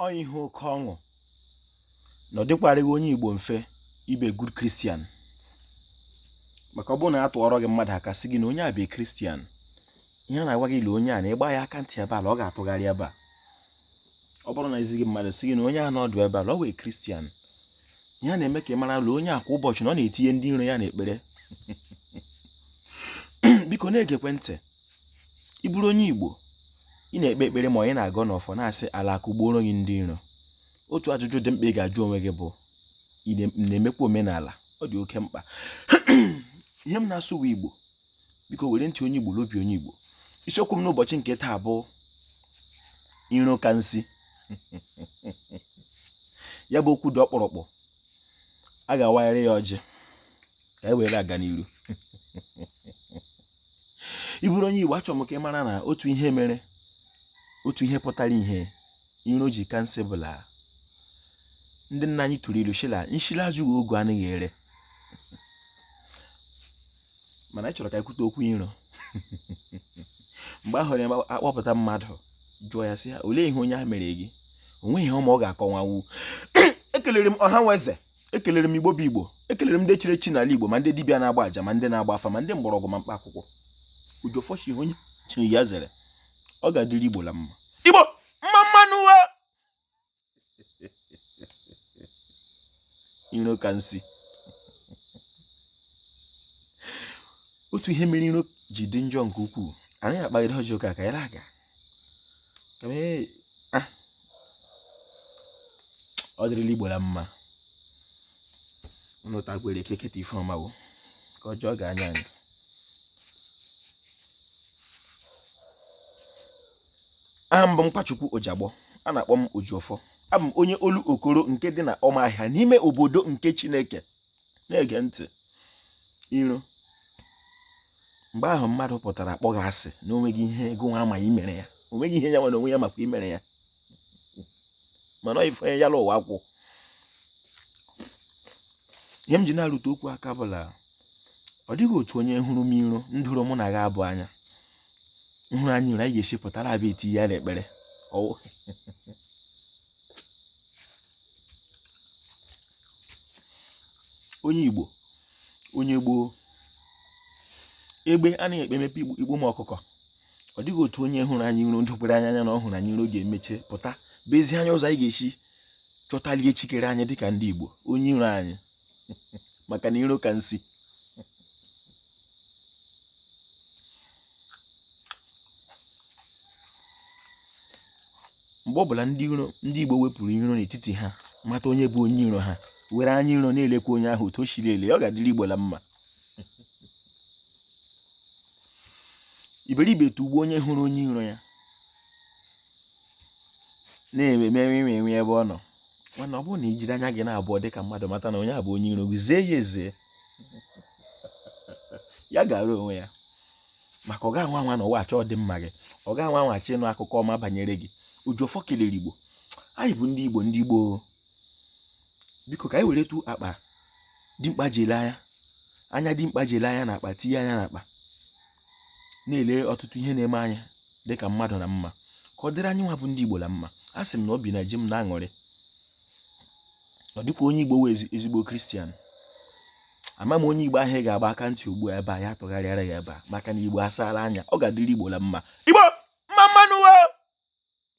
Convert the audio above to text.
ọ ihe oke ọṅụ na ọ dịkwarịghị onye Igbo mfe ịbụ good Christian maka ọ bụrụ na a tụọrọ gị mmadụ aka sị gị na onye a bụ Christian ihe a na-agwa gị ile onye a na ị gbaa ya aka ntị ebe a la ọ ga-atụgharị ebe a ọ bụrụ na e zi gị mmadụ sị gị na onye a nọdụ ebe a la ọ wụ Christian ihe a na-eme ka ị mara la onye a kwa ụbọchị na ọ na-etinye ndị iro ya n'ekpere biko na-egekwe ntị ị bụrụ onye Igbo ị na-ekpe ekpere ma onye na-agọ n'ọfọ na-asị ala kụgbuoro gị ndị iro otu ajụjụ dị mkpa ị ga-ajụ onwe gị bụ ị na-emekwa omenala ọ dị oke mkpa ihe m na-asụ bụ Igbo biko were ntị onye Igbo la obi onye Igbo isiokwu m n'ụbọchị nke taa bụ iro ka nsi ya bụ okwu dị ọkpụrụkpụ a ga-awagharị ya ọjị ka e were aga n'iru ị bụrụ onye Igbo achọrọ m ka ị mara na otu ihe mere otu ihe pụtara ihe iro ji ka nsi bụ la ndị nna anyị tụrụ ilu shị la nshi la-ejighị ogu anaghị ere mana anyị chọrọ ka e kwuo okwu iro mgbe ahụ ya akpọpụta mmadụ jụọ ya sị ya olee ihe onye a mere gị o nweghị ihe ọma ọ ga-akọwanwu ekelere m ọha na eze ekelere m igbo bụ igbo ekelere m ndị chiri echi n'ala igbo ma ndị dibịa na-agba aja ma ndị na-agba afa ma ndị mgbọrọgwụ ma mkpa akwụkwọ ojiọfọ shị ihe onye chiri ya zere ọ ga-adịrị igbo la mma igbo mma mma nụ wa iro ka nsi otu ihe mere iro ji dị njọ nke ukwuu anaghị akpagide ọjị aka ka ya aga ah. ọ dịrịla igbo na mma unu takwere ike keta ife ọma bụ ka ọjọọ ga-anya anyị aha m bụ nkwachukwu ojigbo a na-akpọ m ojiọfọ abụ m onye olokoro nke dị na ụmụahịa n'ime obodo nke chineke na-ege ntị iro mgbe ahụ mmadụ pụtara kpọọ gị asị na o nweghị ihe gị nwa ma i mere ya o nweghị ihe ya nwa onwe ya makwa i mere ya mana ife ya la ụwa kwụ ihe m ji na-arụtụ okwu aka bụ la ọ dịghị otu onye hụrụ m iro ndụrụ mụ na gị abụ anya nhụrụ anyị iro anyị ga-esi pụtara abịa eti ya n'ekpere onye Igbo onye gboo egbe anaghị ekpe emepe igbu ụmụ ọkụkọ ọ dịghị otu onye hụrụ anyị iro ndokwere anya anya na ọ hụrụ anyị iro ga-emeche pụta bịa ezi anyị ụzọ anyị ga-esi chọtali chi kere anyị dịka ndị Igbo onye iro anyị maka na iro ka nsi mgbe ọ bụla ndị Igbo wepụrụ iro n'etiti ha mata onye bụ onye iro ha were anya iro na-elekwa onye ahụ otu o shiri ele ọ ga-adịrị Igbo la mma iberibe tugbuo onye hụrụ onye iro ya na-eme mere ime enwe ebe ọ nọ mana ọ bụrụ na i jiri anya gị n'abụọ dị ka mmadụ mata na onye a bụ onye iro gị zee ya eze ya gara onwe ya maka ọ ga-anwa anwa n'ụwa achọ ọdịmma gị ọ ga-anwa anwa achọ ịnụ akụkọ ọma banyere gị Ojiọfọ kelere Igbo anyị bụ ndị Igbo ndị Igbo biko ka anyị weretụ akpa dimkpa ji ele anya anya dimkpa ji ele anya na akpa tinye anya na akpa na-ele ọtụtụ ihe na-eme anya dịka mmadụ na mma ka ọ dịrị anyị nwa bụ ndị Igbo la mma asị m na obi na-eji m na-aṅụrị ọ dịka onye igbo wee ezigbo kristian ama m onye igbo ahụ ga-agba aka ntị ugbu a ebe a ya tụgharịara ya ebe a maka na igbo asaala anya ọ ga-adịrị igbo la mma igbo mma mma nụ